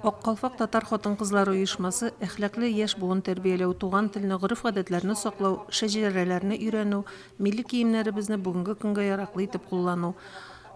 Ак калфак татар хатын-кызлары оешмасы әхлаклы яшь буын тәрбияләү, туган телне, гореф-гадәтләрне саклау, шәҗәрәләрне өйрәнү, милли киемнәребезне бүгенге көнгә яраклы итеп куллану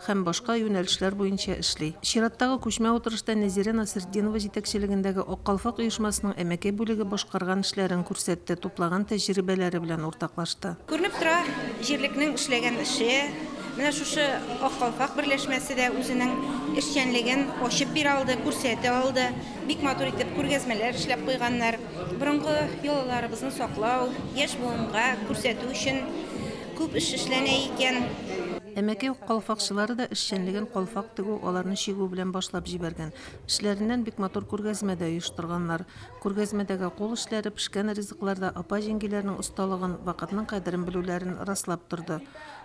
һәм башка юнәлешләр буенча эшли. Чираттагы күчмә утырышта Нәзирә Насретдинова җитәкчелегендәге Ак калфак оешмасының әмәкәй бүлеге башкарган эшләрен күрсәтте, туплаган тәҗрибәләре белән уртаклашты. Күренеп тора, җирлекнең эшләгән эше. Менә шушы Ак калфак берләшмәсе дә үзенең эшчәнлеген ачып бирә алды, күрсәтә алды. Бик матур итеп күргәзмәләр эшләп куйганнар. Борынгы йолаларыбызны саклау, яшь буынга күрсәтү өчен күп эш эшләнә икән. Әмәкәй калфакчылары да эшчәнлеген калфак тегү, аларны чигү белән башлап җибәргән. Эшләреннән бик матур күргәзмә дә оештырганнар. Күргәзмәдәге кул эшләре, пешкән ризыклар да апа-җиңгиләрнең осталыгын, вакытның кадерен белүләрен раслап торды.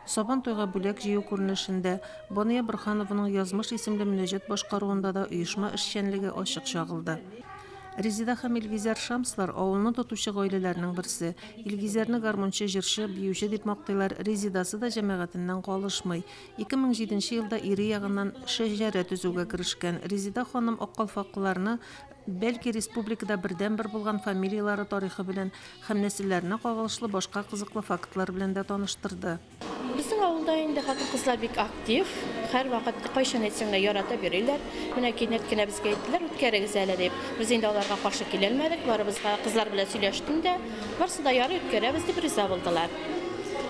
Сабантуйга бүләк җыю күренешендә, Бания Борһанованың Язмыш исемле мөнәҗәт башкаруында да оешма эшчәнлеге ачык чагылды. Резеда һәм Илгизәр Шамслар, авылны тотучы гаиләләрнең берсе. Илгизәрне гармунчы, җырчы, биюче дип мактыйлар, Резедасы да җәмәгатеннән калышмый. 2007 нче елда ире ягыннан шәҗәрә төзүгә керешкән Резеда ханым аккалфаклыларны Бәлки республикада бердәнбер булган фамилияләре тарихы белән һәм нәселләренә кагылышлы башка кызыклы фактлар белән дә таныштырды. Безнең авылда инде хатын-кызлар бик актив, һәрвакыт кайчан әйтсәң дә яратып йөриләр. Менә кинәт кенә безгә әйттеләр, үткәрегез әле дип. Без инде аларга каршы килелмәдек, барыбызга кызлар белән сөйләштем дә, барсы да ярый, үткәрәбез дип риза булдылар.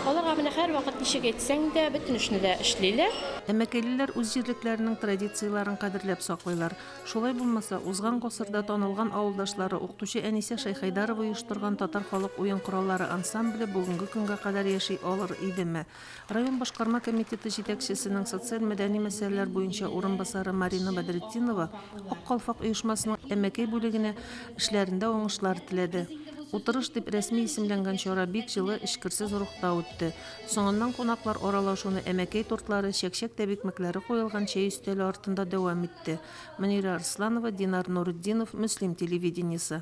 Аларга менә һәрвакыт ничек әйтсәң дә, бөтен эшне дә эшлиләр. Әмәкәйлеләр үз җирлекләренең традицияләрен кадерләп саклыйлар. Шулай булмаса, узган гасырда танылган авылдашлары, укытучы Әнисә Шәйхәйдарова оештырган татар халык уен кораллары ансамбле бүгенге көнгә кадәр яши алыр идеме? Район башкарма комитеты җитәкчесенең социаль-мәдәни мәсьәләләр буенча урынбасары Марина Бәдретдинова Ак калфак оешмасының Әмәкәй бүлегенә эшләрендә уңышлар теләде. Утырыш дип рәсми исемләнгән чара бик җылы, эчкерсез рухта үтте. Соңыннан кунаклар аралашуны әмәкәй тортлары, чәкчәк тәбикмәкләре куелган чәй өстәле артында дәвам итте. Мөнирә Арсланова, Динар Нуретдинов, Мөслим телевидениесе.